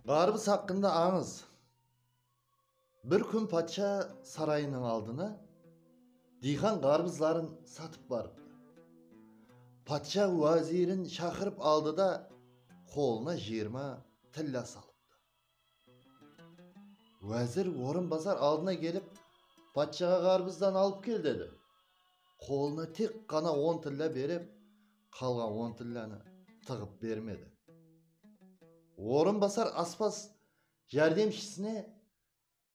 Ǵarbız haqqında ańız. Bir kún patsha sarayınıń aldına diyqan ǵarbızların satıp barıptı. Patsha wázirin shaqırıp aldı da, qolına jiyırma tilla salıptı. Wázir orınbasar aldına kelip, Patshaǵa ǵarbızdan alıp kel, dedi. Qolına tek ǵana on tilla berip, qalǵan on tillanı tıǵıp bermedi. Orınbasar aspaz járdemshisine.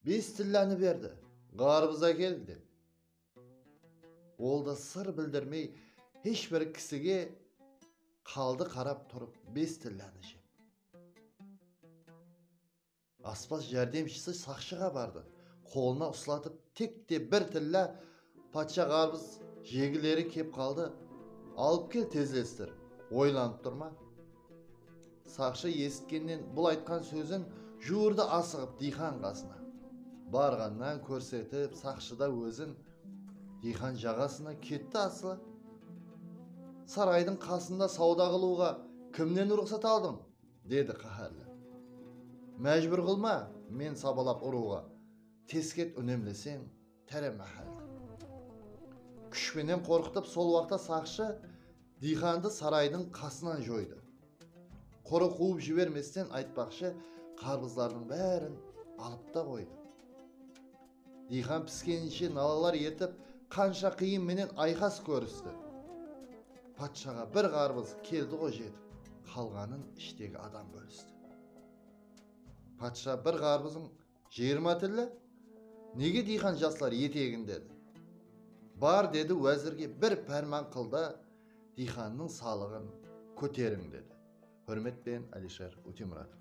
Bes tillanı berdi, ǵarbız ákel, dep. Ol da sır bildirmey hesh bir kisige qaldı qarap turıp bes tillanı jep. Aspaz járdemshisi saqshıǵa bardı, qolına uslatıp tek te bir tilla Patsha ǵarbız jegileri kep qaldı, alıp kel tezlestir, oylanıp tur ma? Saqshı esitkennen bul aytqan sózin juwırdı asıǵıp diyxan qasına. Barǵannan kórsetip saqshıda ózin diyxan jaǵasına ketti asıla. Saraydıń qasında sawda qılıwǵa kimnen ruxsat aldıń? dedi qáhárli. Májbúr qılma men sabalap urıwǵa, tesket únemleseń. Táre máhálle. Kúsh penen qorqıtıp sol waqta saqshı diyxandı saraydıń qasınan joydı. Qora quwıp jibermesten aytpaqshı qarpızlardıń bárin alıp ta qoydı. Diyxan piskeninshe nalalar etip qansha qıyın menen ayqas kóristi. Patshaǵa bir qarpız keldiǵo jetip qalǵanın ishtegi adam bólisti. Patsha bir qarpızıń Jıyırma tilli, nege diyxan jaslar et egin dedi. Bar dedi wázirge bir párman qıl da diyxannıń salıǵın kóteriń dedi. Húrmetpen Alisher Ótemuratov.